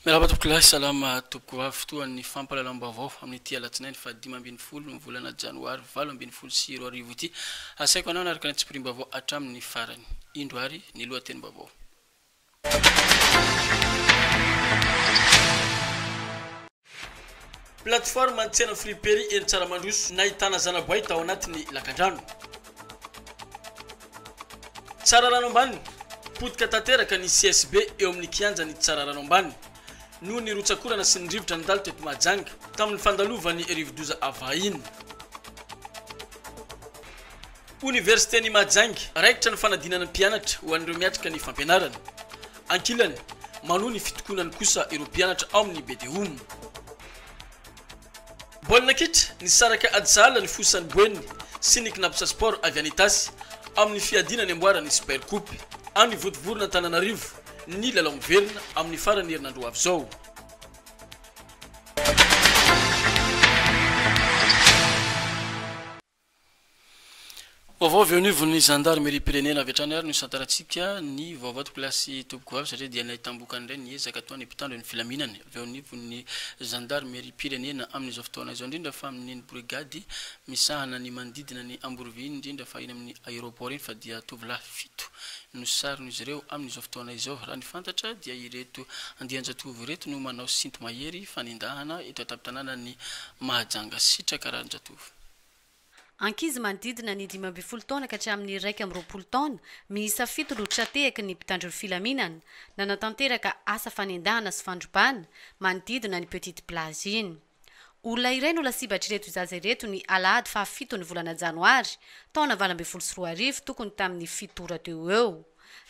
Miarahaba tompokolahy, salama tompoko avy fotoan'ny fampahalalam-baovao amin'ity alatsinainy faha dimy ambin'ny folo ny volana janoary valo ambin'ny folo sy roa arivo ity. Asaiko anao hanaraka ny tsipiriam-baovao hatramin'ny farany. Indro ary ny lohatenim-baovao. Plateforme ny tsena friperie eny Tsaramandroso nahitana zanaboay tao anatin'ny lakandrano. Tsararano ambany, Potika tanteraka ny CSB eo amin'ny kianjan'i Tsararano ambany noho ny rotsak'orana sy ny rivotra nandalo teto Mahajanga tamin'ny fandalovan'ny rivodoza avahiny. Oniversiten'i Mahajanga, Raikitra ny fanadinana ny mpianatra ho an'ireo miatrika ny fampianarana. Ankilany, Manohy ny fitokonany kosa ireo mpianatra ao amin'ny Bedeom. Baolina kitra, nisaraka Ajala nifosa ny Boeny sy ny Cnaps Sport avy any Itasy amin'ny fiadiana ny amboaran'ny Super Coupe. Any Ivodivoron'Antananarivo ny lalao miverina amin'ny faran'ny herinandro ho avy izao. Vaovao avy eo anivon'ny zandarimeriam-pirenena avy hatrany ary no hisantarantsika ny vaovao toklasy tompoko vavy satria dia nahitam-bokany indray ny ezaka atao ny mpitandro ny filaminana avy eo anivon'ny zandarimeriam-pirenena amin'izao fotoana izao indrindra fa amin'ny ny brigady misahana ny manodidina ny Amborovy iny indrindra fa eny amin'ny aéroport iny fa dia tovolahy fito no sarona izy ireo amin'izao fotoana izao raha ny fantatra dia ireto andian-jatovo ireto no manao sinto-mahery fanendahana eto an-tampon-tanànan'i Mahajanga sitraka rarin-jatovo. Ankizy manodidina ny dimy ambin'ny folo taona ka hatramin'ny iraika amby roapolo taona, miisa fito no tra-tehaky ny mpitandro ny filaminana, nanatanteraka asa fanendahana sy fandrobana manodidina ny Petite Plage iny. Olona iray no lasibatr'ireto zaza ireto ny alahady faha fito ny volana janoary, taona valo ambin'ny folo sy roa arivo, tokony tamin'ny fito ora teo ho eo.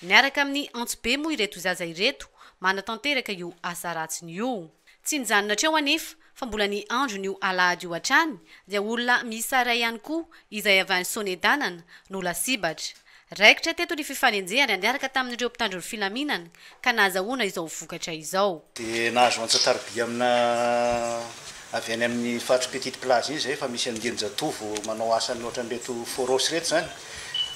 Miaraka amin'ny antsibe moa ireto zaza ireto manatanteraka io asa ratsiny io. Tsy nijanona hatreo anefa fa mbola ny andron'io alahady io hatrany dia olona miisa iray ihany koa izay avy any Sonedanana no lasibatra. Raikitra teto ny fifanenjehana niaraka tamin'ireo mpitandro ny filaminana ka nahazahoana izao vokatra izao. Dia nahazo antsa-tariby amina avy any amin'ny faritry Petite Plage iny izay efa misy andian-jatovo manao asany ohatran'ireto Foros ireto izany,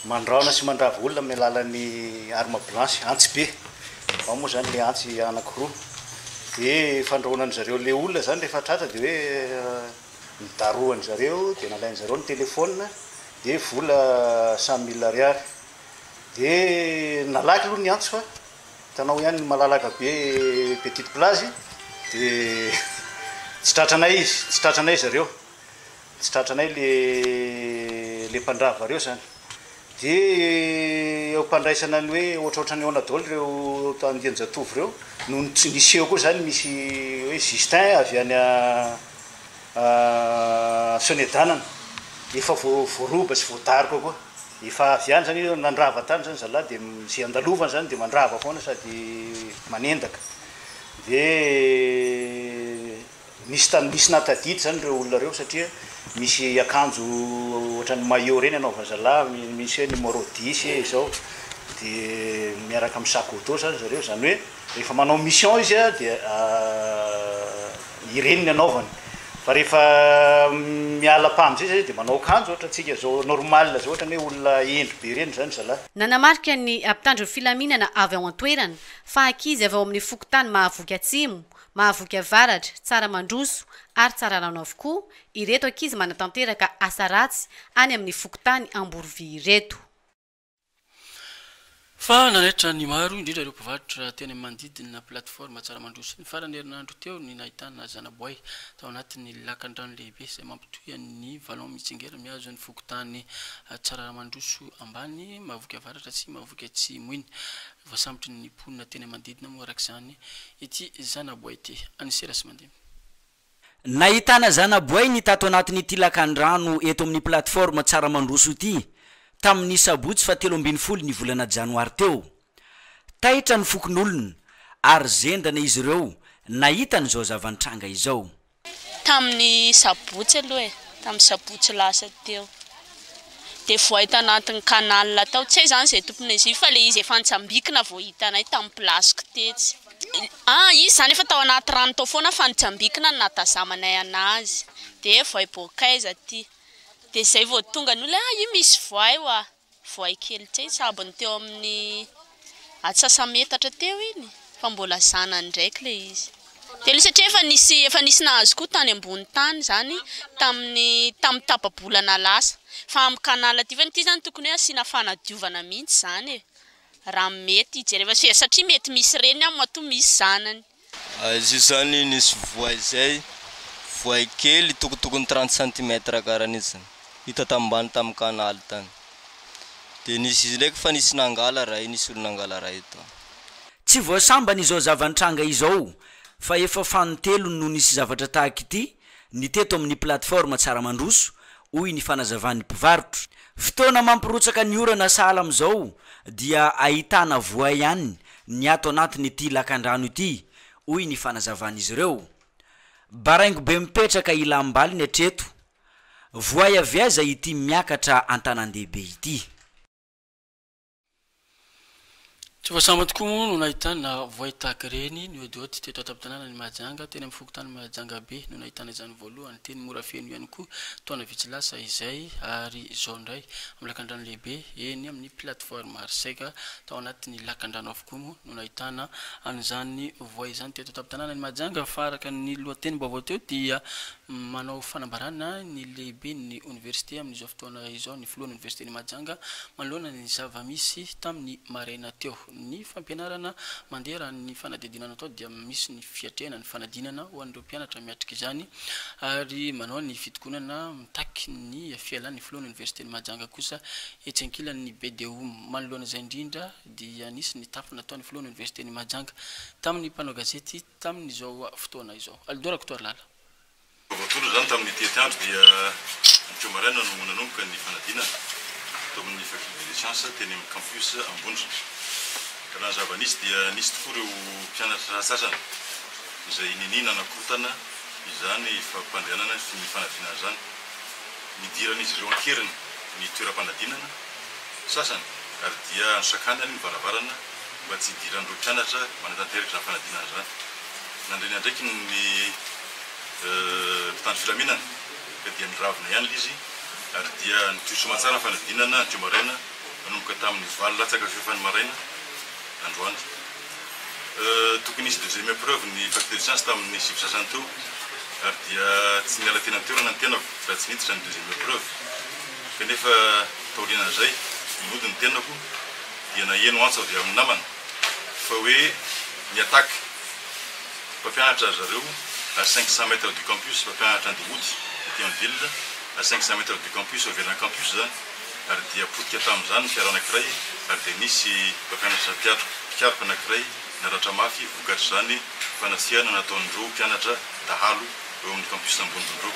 mandraona sy mandrava olona amin'ny alalan'ny arme blanche, antsy be, ao moa izany ilay antsy anankiroa, dia fandrahoana an'zareo ilay olona izany rehefa tratra dia hoe nidarohan'zareo dia nalain'zareo ny téléphone dia vola cent mille ariary. Dia nalaky aloha ny antso fa hitanao ihany ny malalaka be petite plage dia tsy tratranay izy, tsy tratranay zareo, tsy tratranay le le mpandrava ireo zany. Dia eo am-pandraisana ny hoe ohatrohatran'ny ahoana daholo ireo andian-jatovo ireo no niseho koa zany misy hoe Justin avy any Sonedanana efa voaroba sy voadaroka koa. Efa avy any zany nandrava tany zany zalah de ze andalovany zany de mandrava foana sady manendaka de nisy tany nisy nahatadidy zany reo olona reo satria misy akanjo ohatran'ny maillot reny anaovan'ny zalah misy hoe numéro dix ee zao de miaraka amin'ny sac auto zany zareo zany hoe Rehefa manao mission izy dia ireny ny anaovany fa rehefa miala pah amizay zay dia manao akanjo ohatra tsika zao normal zao ohatrany hoe olona hendry be reny zany zalahy. Nanamarika ny mpitandro ny filaminana avy ao an-toerana fa ankizy avy ao amin'ny fokontany Mahavoky Atsimo, Mahavoky Avaratra, Tsaramandroso ary Tsararano avokoa ireto ankizy manatanteraka asa ratsy any amin'ny fokontany Amborovy ireto. Fa nanaitra ny maro, indrindra ireo mpivarotra teny amin'ny manodidina plateforme Tsaramandroa sy ny farany herinandro teo ny nahitana zanaboay tao anatin'ny lakandrano lehibe izay mampitohy an'i Vallon mitsingera mihazo ny fokontany Tsararamandroso ambany, Mahavoky avaratra sy Mahavoky atsimo iny. Voasambotry ny mponina teny manodidina moa araka izany ity zanaboay ity. An'i Serasy Mandimby. Nahitana zanaboainy tato anatin'ity lakandrano eto amin'ny plateforme Tsaramandroso ity tamin'ny sabotsy faha telo ambin'ny folo ny volana janoary teo. Taitra ny fokonolona ary zendrana izy ireo nahita an'izao zava-nitranga izao. Tamin'ny sabotsy aloha e, tamin'ny sabotsy lasa teo dia voay tao anatin'ny canal tao, tsy hay izany izay tompon'izy io fa ilay izy efa nitsambikina vao hitanay tamin'ny place-ko tetsy. Ah izy izany efa tao anaty rano tao foana fa nijambikina no nahatazamanay anazy dia voay bôkaiza aty dia izay vao tonga ny olona io misy voay hoa voay kely tsy hay sabony teo amin'ny atsasa-metatra teo iny fa mbola zanany ndraiky ilay izy dia nisy satria efa nisy efa nisy nahazo koa tany ambony tany izany tamin'ny tamin'ny tapa-bolana lasa fa amin'ny canal aty fa ity izany tokony hoe asiana fanadiovana mihitsy izany e Raha mety jereva fijery satria mety misy reny ao matoa misy zanany. Izy io zany nisy voay zay, voay kely tokotokony trente centimètres karany izy zany, hita tambany tam canal tany, de nisy izy ndraiky fa nisy nangala ray, nisy olo nangala ray tao. Tsy voasambany izao zava-nitranga izao fa efa fanintelony no nisy zavatra tahaka ity ny teto amin'ny plateforme Tsara Mandroso, hoy ny fanazavan'ny mpivarotra. Fotoana mampirotsaka ny orana sahala amin'izao dia ahitana voay ihany ny ato anatin'ity lakandrano ity, hoy ny fanazavan'izy ireo. Baraingo be mipetraka ilam-baliny hatreto. Voay avy aiza ity miakatra an-tanàn-dehibe ity? Tsy vao sambany tokoa moa no nahitana voay tahaka ireny ny hodiody teto an-tampon-tanànan'i Mahajanga. Teny amin'ny fokontany Mahajangabe no nahitana izany voalohany, teny Morafeno ihany koa taona vitsy lasa izay ary izao indray amin'ny lakandrano lehibe eny amin'ny plateforme Arsec tao anatin'ny lakandrano avokoa. Koa moa no nahitana an'izany voay izany teto an-tampon-tanànan'i Mahajanga fa araka ny lohatenim-baovao teo dia manao fanambarana ny lehiben'ny oniversite amin'izao fotoana izao ny filohan'ny oniversiten'i Mahajanga manoloana ny zava-misy tamin'ny maraina teo. Ny fampianarana mandeha raha ny fanadihadiana natao dia misy ny fiatrehana ny fanadinana ho an'ireo mpianatra miatrika izany ary manao ny fitokonana mitaky ny fialan'ny filohan'ny oniversiten'i Mahajanga kosa etsy ankilan'ny BDOM. Manoloana izay indrindra dia nisy ny tafa nataon'ny filohan'ny oniversiten'i Mahajanga tamin'ny mpanao gazety tamin'izao fotoana izao. Alidor Rakotoarilala. Vaovao tsotra izany tamin'ity atiandro dia ny teo maraina no nanomboka ny fanadinana tao amin'ny Faculté des Sciences teny amin'ny Campus Ambondrona. Ka raha ny zava-nisy dia nisy tokoa ireo mpianatra sasany izay ninia nanakorontana izany fampandehanana ny fanadinana izany. Nidiran'izy ireo an-keriny ny toeram-panadinana sasany ary dia nosakanany ny varavarana mba tsy hidiran'ireo mpianatra manatanteraka izany fanadinana izany. Nandre ny andraikiny ny mpitandro filaminana ka dia niravona ihany ilay izy ary dia nitohy soamantsara ny fanadinana hatreo maraina nanomboka tamin'ny valo latsaka fahefany maraina androany. Tokony hisy deuxième épreuve ny fac de sciences tamin'ny sivy sasany teo ary dia tsy niala teny an-toerana ny tenako raha tsy niditra ny deuxième épreuve kanefa taorianan'izay nody ny tenako dia naheno antso avy amin'ny namana fa hoe ny attaque mpampianatra ry zareo à cinq cents mètres du campus, mpampianatra andeha hody aty amin'ny ville à cinq cents mètres du campus, eo ivelan'ny campus izany. ary dia potika tamin'izany ny fiara anankiray ary dia nisy mpampianatra mpikaroka anankiray naratra mafy vokatr'izany fanasihana nataon'ireo mpianatra dahalo eo amin'ny campus Ambondrondro.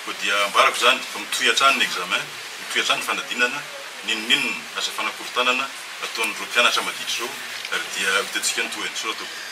Koa dia ambarako izany fa mitohy hatrany ny examen, mitohy hatrany ny fanadinana, n'inon'inona aza fanakorontanana ataon'ireo mpianatra maditra ireo ary dia ho hitantsika ny tohiny. Soratovina.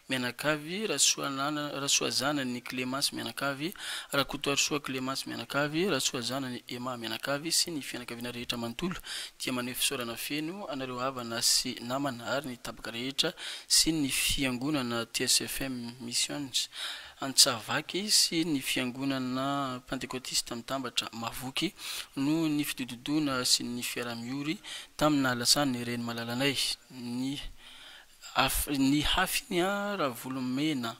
Mianakavy, Rasoanana Rasoazanany Clémence Mianakavy, Rakotoarisoa Clémence Mianakavy, Rasoazanany Emma Mianakavy sy ny fianakaviana rehetra manontolo dia maneho fisaorana feno anareo havana sy namana ary ny tapaka rehetra sy ny fiangonana TSFM Missions Antsahavaky sy ny fiangonana Pantekotista Mitambatra Mahavoky noho ny fidododoana sy ny fiaraha-miory tamin'ny nahalasan'ny reny malalanay ny Af ny hafiny a Ravolomena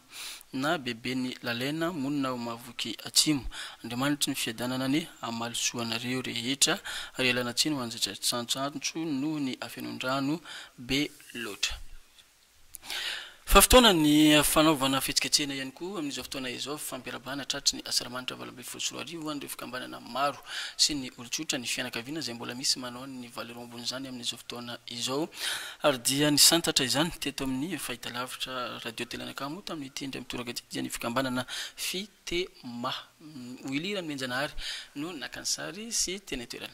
na beben'i Lalena monina ao Mahavoky Atsimo. Andriamanitry ny fiadanana anie hamaly soa anareo rehetra ary ialana tsiny ho an'izay tsatsantsantsantso noho ny hafenon-drano be loatra. Fa fotoana ny fanaovana fihetsiketsehana ihany koa amin'izao fotoana izao fifampiarabana tratry ny asaramanitra valo amby Folo sy roa arivo ho an'ireo fikambanana maro sy ny olon-tsotra, ny fianakaviana izay mbola misy manao ny valo ora ambon'izany amin'izao fotoana izao ary dia nisantatra izany teto amin'ny fahitalavitra Radio Telanakamo tamin'ity indray mitoraka ity dia ny fikambanana Fitema. Willy Ranohenjanahary no naka ny sary sy teny an-toerana.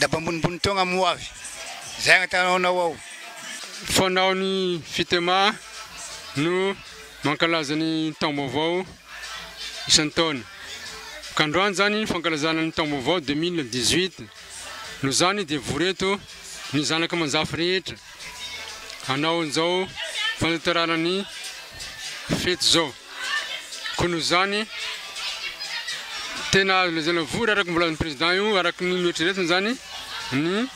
Daba ambonimbony togna mo avy zay agnatanaonao ao. Fanao ny Fitema no mankalaza ny taom-baovao isan-taona. Ka androany zany fankalazana ny taom-baovao deux mille dix huit. Noho zany dia vory eto ny zanaka aman-jafy rehetra hanao an'izao fanatanterahana ny fety zao. Koa noho izany, tena azo lazaina vory araka ny volazin'ny Président io, araka ny noeritreretiny izany, ny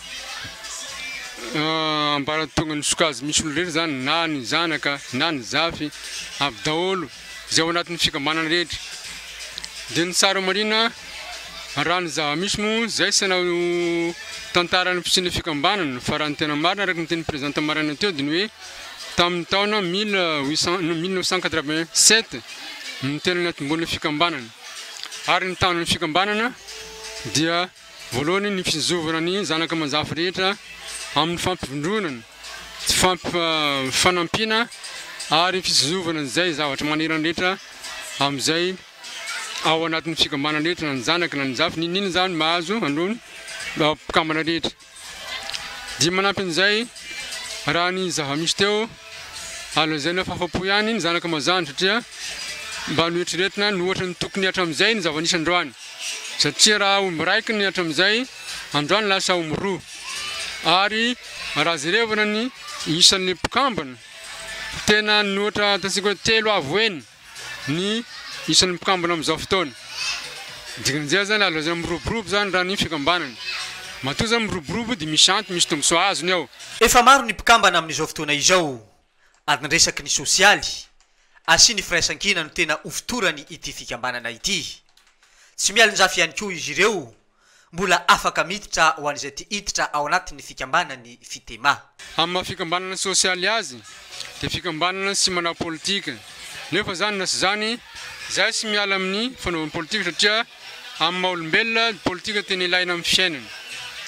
ambaratongan'ny sokajy misy olona rehetra izany, na ny zanaka, na ny zafy, avy daholo izay ao anatin'ny fikambanana rehetra. Dia ny tsara marina, raha ny zava-misy moa izay tsy hanao tantara ny fisian'ny fikambanana, fa raha ny tena marina araka ny tenin'ny Président tamin'ny maraina teo dia ny hoe, tamin'ny taona mille huit cent, mille neuf cent quatre-vingt-sept no tena niantombohan'ny fikambanana. Ary ny tahan'ny fikambanana dia voalohany ny fizovana ny zanaka aman-jafy rehetra amin'ny fampivondronana, fampifanampiana ary fizovana izay zavatra manerana rehetra amin'izay ao anatin'ny fikambanana rehetra na ny zanaka na ny jafy, n'inon'inona izany mahazo an'ireo mpikambana rehetra. Dia manampy an'izay, raha ny zava-misy teo, ary lazaina fa afa-po ihany ny zanaka mazàna satria mba noeritreretina ny ohatra ny tokony hatramin'izay ny zava-nisy androany. Satria raha omby raiky ny hatramin'izay, androany lasa omby roa. Ary raha jerevana ny isan'ny mpikambana, tena ny ohatra ataontsika hoe telo avo heny. ny isan'ny mpikambana amin'izao fotoana. Dikan'izay zany azo lazaina miroborobo zany raha ny fikambanana. Matoa zany miroborobo dia misy antony, misy tombontsoa azony ao. Efa maro ny mpikambana amin'izao fotoana izao ary ny resaky ny sosialy asia ny firaisankina no tena hofotorany ity fikambanana ity. Tsy mialonjafy ihany koa izy ireo mbola afaka miditra ho an'izay te hiditra ao anatin'ny fikambanan'ny Fitema. Amin'ny maha fikambanana sosialy azy dia fikambanana tsy manao politika, nefa izany na tsy izany izahay tsy miala amin'ny fanaovana politika satria amin'ny maha olombelona dia politika tena ilaina amin'ny fiainana,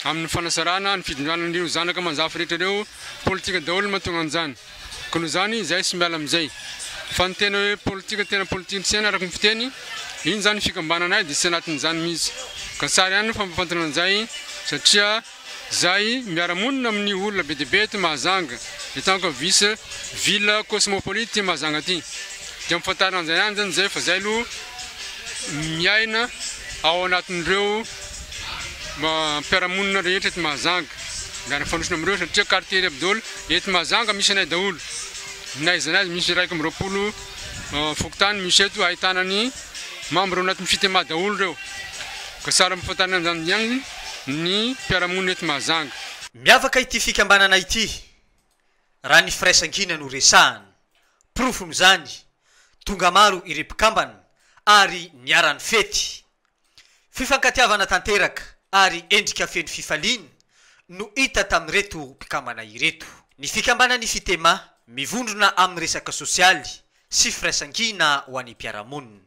amin'ny fanasarana, ny fitondràna an'ireo zanaka aman-jafy rehetra ireo, politika daholo ny mahatonga an'izany. Ka noho izany izay tsy miala amin'izay. Fa ny tena hoe politika tena politikan'ny saina araka ny fiteny, iny izany fikambanana ahy dia tsy anatin'izany mihitsy. Ka tsara ihany ny fampafantarana an'izay satria izahay miara-monina amin'ny olona be dia be eto Mahajanga, eto anka vice ville cosmopolite ity Mahajanga ity. Dia ampafantarina an'izay ihany izany izay fa izahay aloha miaina ao anatin'ireo. mba mpiara-monina rehetra eto Mahajanga, mba nifanosona amin'ireo satria quartier Ry Abdol eto Mahajanga misy anay daholo, na aiza na aiza misy iraika amby roapolo fokontany misy eto ahitana ny membre ao anatin'ny Fitema daholo ireo, ka sahala amin'ny fahitana an'izany ihany ny mpiara-monina eto Mahajanga. Miavaka ity fikambanana ity raha ny firaisankina no resahana, porofon'izany, tonga maro ireo mpikambana ary niara-nifety, Fifankatiavana tanteraka ary endrika feno fifaliana no hita tamin'ireto mpikambana ireto. Ny fikambanan'ny Ifitema, mivondrona amin'ny resaka sosialy sy firaisankina ho an'ny mpiara-monina.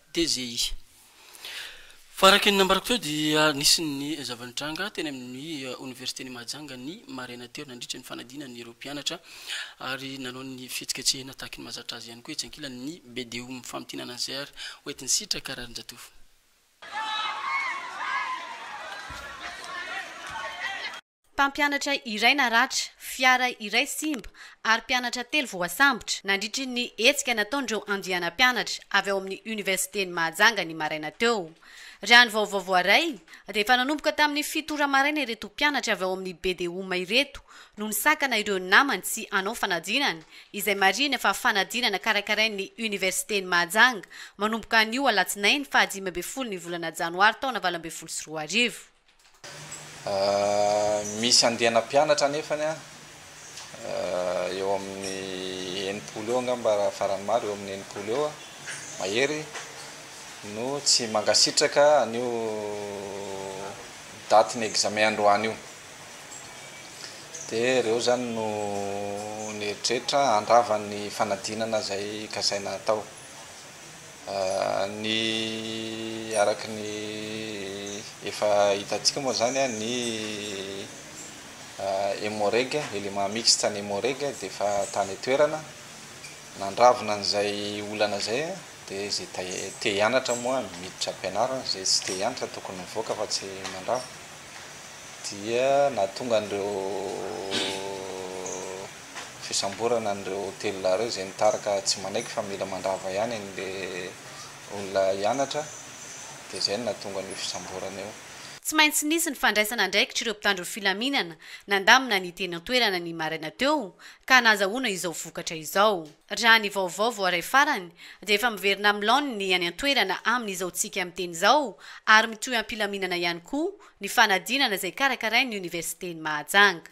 TGI. Faraky ny nambarako teo dia nisy ny zava-nitranga teny amin'ny Oniversiten'i Mahajanga ny maraina teo nandritra ny fanadinana ireo mpianatra ary nanao ny fihetsiketsehina tahaky ny mahazatra azy ihany koa etsy ankilany ny BDO Mifamintinana izay ary hoentin'i Sitraka Raharinjatovo. Mpampianatra iray naratra, fiara iray simba ary mpianatra telo voasambotra nandritry ny hetsika nataon'ireo andiana mpianatra avy ao amin'ny Oniversiten'i Mahajanga ny maraina teo. Raha ny vaovao voaray dia efa nanomboka tamin'ny fito ora maraina ireto mpianatra avy ao amin'ny BDUM ireto no nisakana ireo namany tsy hanao fanadinana izay marihina fa fanadinana karakarain'ny Oniversiten'i Mahajanga manomboka anio alatsinainy fahadimy ambin'ny folo ny volana janoary taona valo ambin'ny folo sy roa arivo. Misy andiana mpianatra anefany an, eo amin'ny enimpolo eo angamba raha faran'ny maro, eo amin'ny enimpolo eo mahery no tsy mankasitraka an'io datin'ny examen androany io. Dia ireo izany no nieritreritra handrava ny fanadinana izay kasaina hatao. Ny araka ny efa hitantsika moa izany, ny Emmo-Reg, Element Mixte an'ny Emmo-Reg dia efa tany an-toerana, nandravona an'izay olana izay, dia izay te hianatra moa miditra am-pianarana, izay tsy te hianatra tokony mivoaka fa tsy mandrava, dia nahatonga an'ireo fisamborana an'ireo telolahy ireo izay nitary ka tsy manaiky fa mila mandrava ihany an'ilay olona hianatra dia izay no nahatonga an'io fisamborana io. Tsy maintsy nisy ny fandraisana andraikitr'ireo mpitandro filaminana nandamina ny teny an-toerana ny maraina teo ka nahazahoana izao vokatra izao. Raha ny vaovao voaray farany dia efa miverina amin'ny laoniny ny any an-toerana amin'izao tsika miteny izao ary mitohy am-pilaminana ihany koa ny fanadinana izay karakarain'ny oniversiten'i Mahajanga.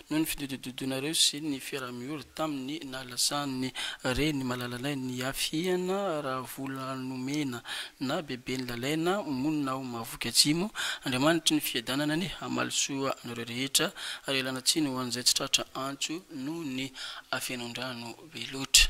noho ny fidododonareo sy ny fiaraha-miory tamin'ny nahalasan'ny reny malalanay ny hafihana Ravoulanomena na Beben'i Lalaina monina ao Mahavoky Atsimo, Andriamanitry ny fiadanana anie hamaly soa anareo rehetra ary ialana tsiny ho an'izay tsy tratra antso noho ny hafenon-drano be loatra.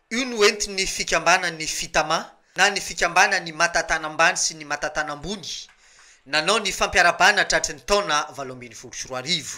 Io no entin'ny fikambanan'ny Fitama na ny fikambanan'ny matatana ambany sy ny matatana ambony nanao ny fampiarabana tratry ny taona valo ambin'ny folo sy roa arivo.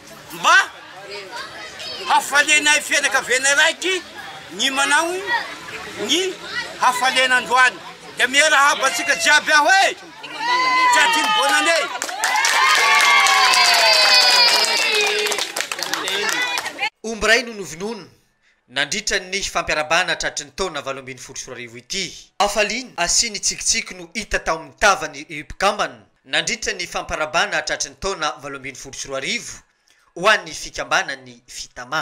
Mba hafalianay fianakavianay raiky ny manao ny hafaliana androany dia miarahaba antsika jiaby aho e! Tratry bonne année! Omby iray no novonoina. nandritra ny fampiarabana tratry ny taona valo ambin'ny folo sy roa arivo ity. Hafaliana sy ny tsikitsiky no hita tao amin'ny tavan'ny mpikambana nandritra ny famparabana tratry ny taona valo ambin'ny folo sy roa arivo ho an'ny fikambanan'ny Fitama.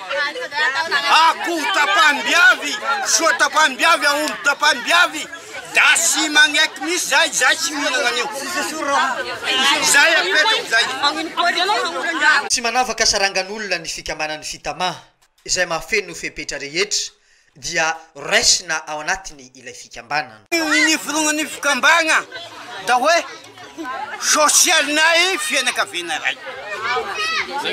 Akoho tapahany biavy, soa tapahany biavy, aomby tapahany biavy, da sy magneky misy zay, zay tsy mihinana an'io. Zay apetrako zay. Tsy manavaka sarangan'olona ny fikambanan'ny Fitama, izay mahafeno fepetra rehetra, dia raisina ao anatiny ilay fikambanana. Ny fironan'ny fikambana da hoe sosialinay fianakaviana iray. Avy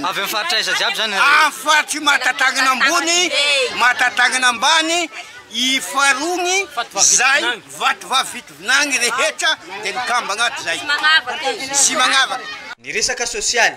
amin'ny faritra aiza jiaby zany nareo? Amin'ny faritry Mahatatanana ambony, Mahatatanana ambany, Ifarony, zay, Vatovavy Fitovinany rehetra de mikambana ato zay. Sy magnavaka. Ny resaka sosialy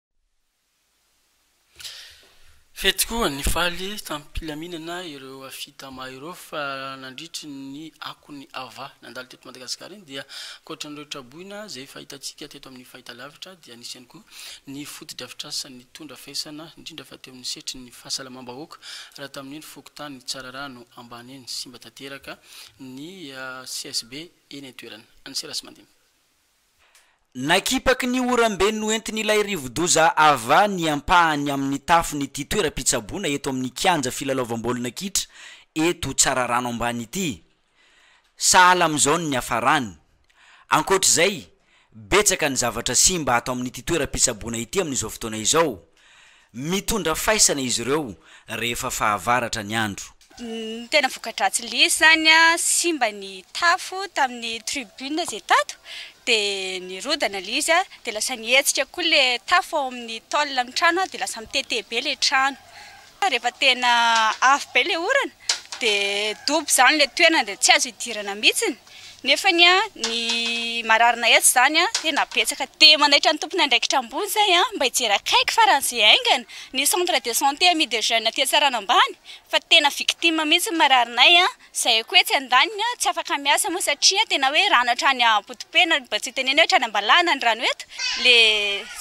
Fety koa nifaly tamim-pilaminana ireo Afitama ireo fa nandritry ny akon'ny Ava nandalo teto Madagasikara iny dia ankoatran'ireo traboina izay efa hitantsika teto amin'ny fahitalavitra dia nisy ihany koa ny fotodrafitrasa nitondra faisana indrindra fa teo amin'ny setry ny fahasalamam-bahoaka raha tamin'iny fokontany Tsararano ambany iny simba tanteraka ny CSB eny an-toerana. Anserasy Mandimby. Nakipaky ny oram-be noentin'ilay rivodoza Ava ny ampahany amin'ny tafon'ity toeram-pitsaboana eto amin'ny kianja filalaovam-baolina kitra eto Tsararano ambany ity. Sahala amin'izao ny niafarany. Ankoatra izay, betsaka ny zavatra simba ato amin'ity toeram-pitsaboana ity amin'izao fotoana izao, Mitondra faisana izy ireo rehefa fahavaratra ny andro. Ny tena voka-dratsy lesy izany, simba ny tafo tamin'ny tribune izay tato, dia nirodana ilay izy, dia lasa nihetsika koa ilay tafo ao amin'ny tôle amin'ny trano, dia lasa mitete be ilay trano. Rehefa tena avo be ilay orana dia dobo izany ilay toerana dia tsy azo hidirana mihitsy nefa ny mararina etsy izany tena betsaka dia manaitra ny tompon' andraikitra ambony izay mba hijery akaiky farany izay haingana ny centre de santé ami des jeunes aty Antsarana ambany fa tena victime mihitsy ny mararinay Zay koa etsy andaniny tsy afaka miasa moa satria tena hoe rano hatrany ampotopena mba tsy hitenena hoe hatrany ambalahana ny rano eto le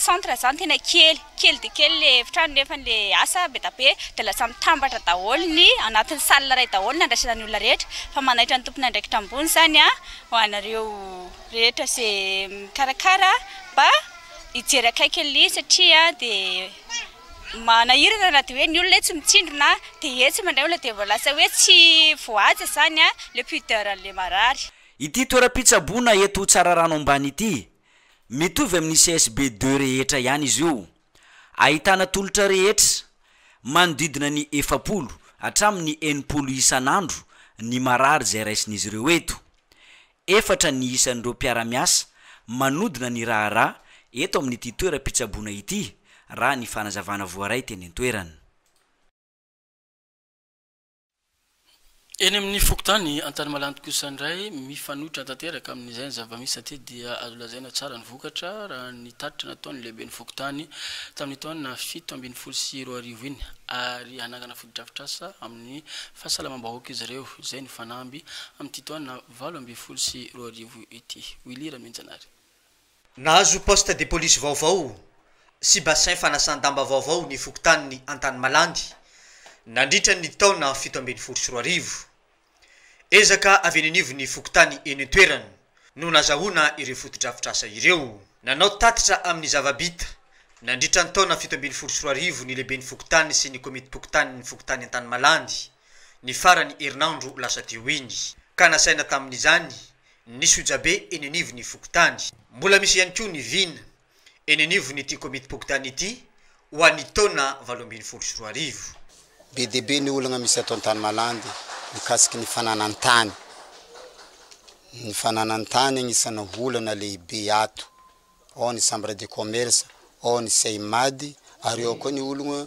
centre zany tena kely kely dia kely le efitrano nefa le asa be da be dia lasa mitambatra daholo ny anatin'ny salle iray daholo ny andraisana ny olona rehetra fa manaitra ny tompon'andraikitra ambony izany an ho anareo rehetra ze mikarakara mba hijery akaiky an'ilay izy satria dia Manahirana na dia hoe ny olona etsy mitsindrona dia etsy mandray olona dia vao lasa hoe tsy voahaja izany ilay pudeur an'ilay marary. Ity toeram-pitsaboana eto Tsararano Ambany ity, mitovy amin'ny CSB deux rehetra ihany izy io. Ahitana tolotra rehetra, manodidina ny efapolo hatramin'ny enimpolo isan'andro ny marary izay raisin'izy ireo eto. Efatra ny isan'ireo mpiara-miasa manodina ny raharaha eto amin'ity toeram-pitsaboana ity, raha ny fanazavana voaray teny an-toerana. Eny amin'ny fokontany Antanimalandy kosa indray, mifanohitra tanteraka amin'izay ny zava-misy aty dia azo lazaina tsara ny vokatra, raha ny tatitra nataon'ny lehiben'ny fokontany tamin'ny taona fito ambin'ny folo sy roa arivo iny, ary hanangana fotodrafitrasa amin'ny fahasalamam-bahoaka izy ireo, izay nifanamby amin'ity taona valo ambin'ny folo sy roa arivo ity. Willy Ramianjanahary. Nahazo poste de police vaovao sy bassin fanasan-damba vaovao ny fokontanin'i Antanimalandy nandritra ny taona fito ambin'ny folo sy roa arivo. Ezaka avy eny anivon'ny fokontany eny an-toerana no nazahoana ireo fotodrafitrasa ireo. Nanao tatitra amin'ny zava-bita nandritra ny taona fito ambin'ny folo sy roa arivo ny lehiben'ny fokontany sy ny komitim-pokontanin'ny fokontany Antanimalandy, ny faran'ny herinandro lasa teo iny, ka nasaina tamin'izany ny sojabe eny anivon'ny fokontany. Mbola misy ihany koa ny vina eny anivon'ity Komitim-pokontany ity ho an'ny taona valo ambin'ny folo sy roa arivo. Be dia be ny olana misy ato Antanimalaandy mikasiky ny fananan-tany. Ny fananan-tany anisana olana lehibe ato. Ao ny Chambre de Commerce, ao ny CEMAD ary ao koa ny olona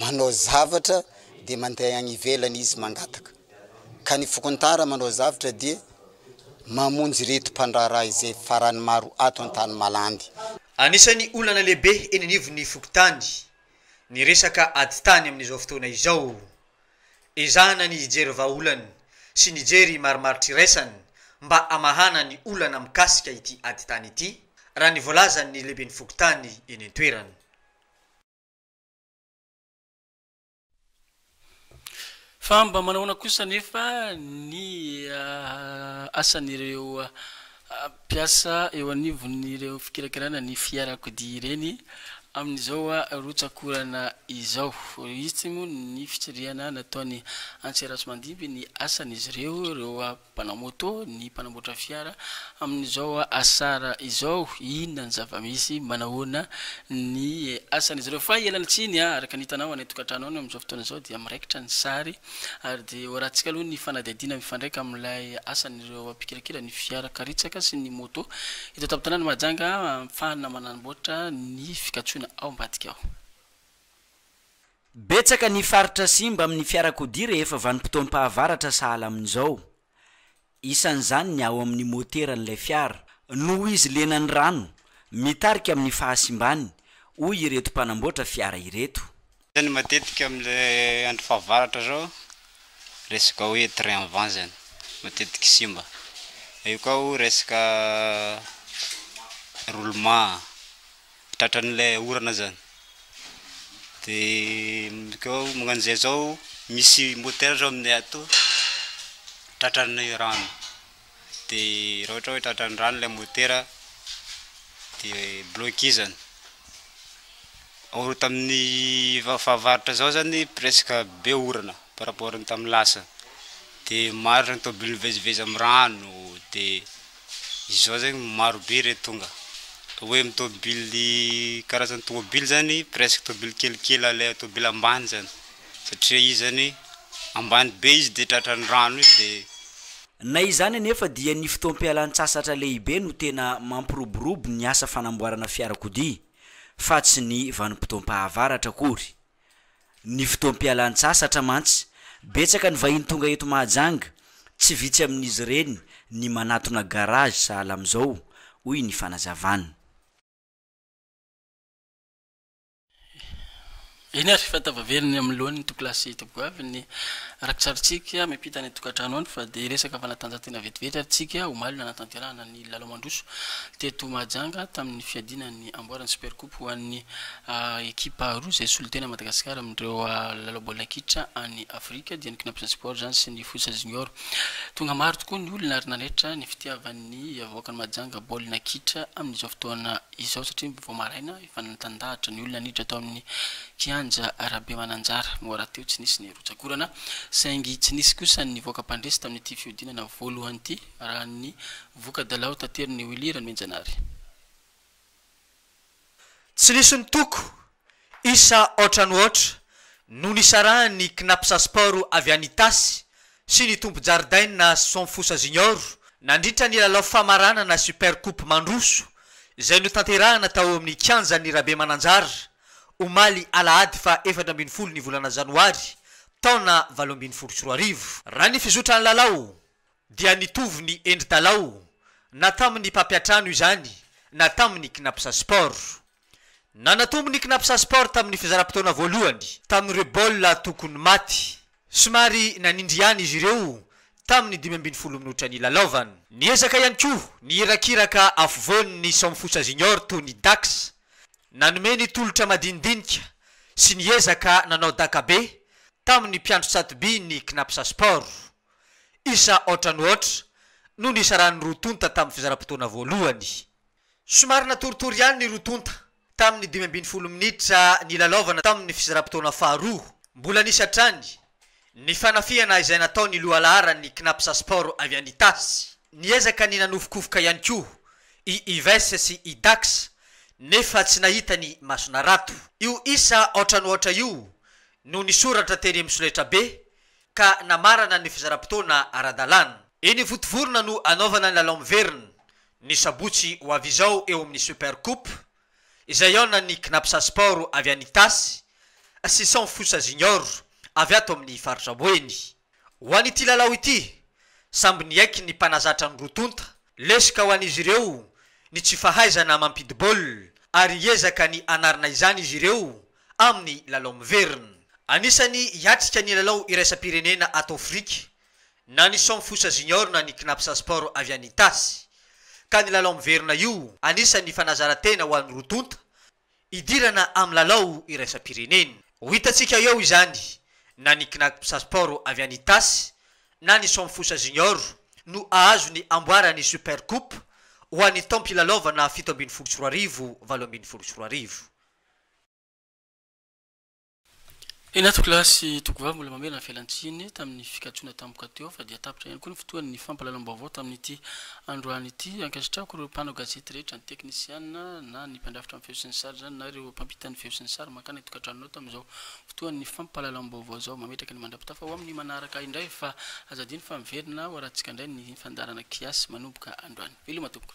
manao zavatra dia mandeha any ivelany izy mangataka, ka ny fokontara manao zavatra dia mamonjy ireto mpandraharaha izay farany maro ato an-tany malandy. Anisan'ny olana lehibe eny anivon'ny fokontany ny resaka ady tany amin'izao fotoana izao. Ezahana ny hijery vahaolana sy ny jery marimaritra iraisana mba hamahana ny olana mikasika ity ady tany ity, raha ny voalazan'ny lehiben'ny fokontany eny an-toerana. Fa mba manao ahoana kosa anefa ny asan'ireo mpiasa eo anivon'ireo fikirakirana ny fiarakodia ireny amin'izao rotsak'orana izao? Hisy moa ny fitsirihana nataon'i Antseratso Mandimby ny asan'izy ireo, ireo. Mpanao moto ny mpanamboatra fiara amin'izao asara izao, inona ny zava-misy, manahoana ny asan'izy ireo. Fa ialana tsiny a, araka ny hitanao any an-tokantrano any amin'izao fotoana izao dia miraikitra ny sary ary dia horahantsika aloha ny fanadihadiana mifandraika amin'ilay asan'ireo mpikirakira ny fiara karitsaka sy ny moto eto an-tampon-tanàna Mahajanga ahafahana manamboatra ny fikatsoana ao ambadika ao. Betsaka ny faritra simba amin'ny fiarakodia rehefa vanim-potoam-pahavaratra sahala amin'izao. Isan'izany ny ao amin'ny moteran'ilay fiara, noho izy lenan'ny rano, mitarika amin'ny fahasimbany, hoy ireto mpanamboatra fiara ireto. Zany matetika amle andro fahavaratra zao resaka hoe train vent zany matetiky simba eo koa resaka roulement. tratran'ilay orana zany de mikao magnano zay zao misy motera zao aminay ato tratran'ny rano de raha ohatra hoe tratran'ny rano ilay motera de blokizany ao tamin'ny fahavaratra zao zany presque be orana par rapport ny tamin'ny lasa de maro zany tôbily mivezivezy amin'ny rano de Izao zegny maro be re tonga hoe am tôbily karazany tôbily zany presque tôbily kelikely ale tôbily ambany zany satria izy zany ambany be izy de tratran'ny rano io de. Na izany anefa dia ny fotoam-pialan-tsasatra lehibe no tena mampiroborobo ny asa fanamboarana fiarakodia fa tsy ny vanim-potoam-pahavaratra akory. Ny fotoam-pialan-tsasatra mantsy, betsaka ny vahiny tonga eto Mahajanga, tsy vitsy amin'izy ireny ny manatona garage sahala amin'izao, hoy ny fanazavana. Eny ary, efa tavavela eny amin'ny lohan'ny Tokolahy sy Tobigoavy ny rakitsarintsika miampita ny tokantrano any fa dia resaka fanatanjahantena vetivety ary tsika omaly no hanatanterahana ny. I Lalao Mandroso teto Mahajanga tamin'ny fiadiana ny amboaran'ny Super Coupe ho an'ny ekipa roa izay solontena Madagasikara amin'ireo lalao baolina kitra any Afrika dia ny Cnaps Sport izany sy ny Fosa Junior. Tonga maro tokoa ny olona ary nanaitra ny fitiavan'ny vahoakan'i Mahajanga baolina kitra amin'izao fotoana izao satria vao maraina efa nitandahatra ny olona niditra tao amin'ny kianja Rabemananjara no rahateo tsy nisy ny rotsak'orana saingy tsy nisy kosa ny nivoaka mpandresy tamin'ity fihodinana voalohany ity raha ny voka-dalao taterin'i Willy Ranohinjanary. Tsy nisy nitoko, isa aotra no aotra no nisarahan'ny Cnaps Sport avy any Itasy sy ny tompon-jaridaina Somfosa Junior nandritra ny lalao famaranana Super Coupe mandroso izay notanterahina tao amin'ny kianjan'i Rabemananjara omaly alahady faha efatra ambin'ny folo ny volana janoary taona valo ambin'ny folo sy roa arivo. Raha ny fizotran'ny lalao, dia nitovy ny endri-dalao na tamin'ny mpampiantrano izany na tamin'ny Cnapsa Sport. Nanatombo ny Cnapsa Sport tamin'ny fizaram-potoana voalohany tamin'ireo baolina tokony maty. Somary nanindry ihany izy ireo tamin'ny dimy ambin'ny folo minitra nilalaovana. Niezaka ihany koa ny hirakiraka afovoany ny Somfutsa Junior toy ny Dax. Nanome ny tolotra madinidinika sy niezaka nanao daka be tamin'ny mpiandry tsato-by ny Cnapsa Sport. Isa ohatranohatra no nisaran'ny roa tonta tamin'ny fizaram-potoana voalohany. Somary natoritory ihany ny roa tonta tamin'ny dimy ambin'ny folo minitra nilalaovana tamin'ny fizaram-potoana faharoa. Mbola nisy hatrany ny fanafihana izay nataon'ny lohalaharan'ny Cnaps Sport avy any Itasy. Niezaka ny nanofokofoka ihany koa i Ives sy i Dax nefa tsy nahita ny mason'Arato. Io isa ohatranohatra io no nisoratra tery amin'ny solaitrabe ka namarana ny fizaram-potoana ara-dalàna. Eny Ivontovorona no hanaovana ny lalao miverina, ny sabotsy ho avy izao eo amin'ny Super Coupe, izay hihaonan'ny Cnapsa Sport avy any Itasy sy Cent Fosa Junior avy ato amin'ny faritra Boeny. Ho an'ity lalao ity, samby niaiky ny mpanazatra ny roa tonta. Lesoka ho an'izy ireo ny tsy fahaizana mampidi-baolina ary hiezaka ny hanarina izany izy ireo amin'ny lalao miverina. Anisan'ny hiatrika ny lalao iraisam-pirenena ato Afrika na ny Som Fosa Junior na ny Cnaps Sport avy any Itasy, ka ny lalao miverina io anisan'ny fanazaran-tena ho an'ny roa tonta hidirana amin'ny lalao iraisam-pirenena. Ho hitantsika eo izany na ny Cnaps Sport avy any Itasy na ny Som Fosa Junior no hahazo ny amboara ny Super Coupe ho an'ny taom-pilalaovana fito ambin'ny folo sy roa arivo valo ambin'ny folo sy roa arivo. Eny Antokolahy sy Togovavy mbola mamelona fialan-tsiny tamin'ny fikatrohana tampoka teo fa dia tapitra ihany koa ny fotoan'ny fampahalalam-baovao tamin'ity androany ity. Ankasitrahako ireo mpanao gazety rehetra, ny teknisiana na ny mpandrafitra amin'ny feo sy ny sary izany na ireo mpampita ny feo sy ny sary mankany an-tokantranonao tamin'izao fotoan'ny fampahalalam-baovao izao. Mametraka ny mandra-pitafa ho amin'ny manaraka indray fa aza adino fa miverina ho arahantsika indray ny fandaharana kiasy manomboka androany. Veloma tompoko.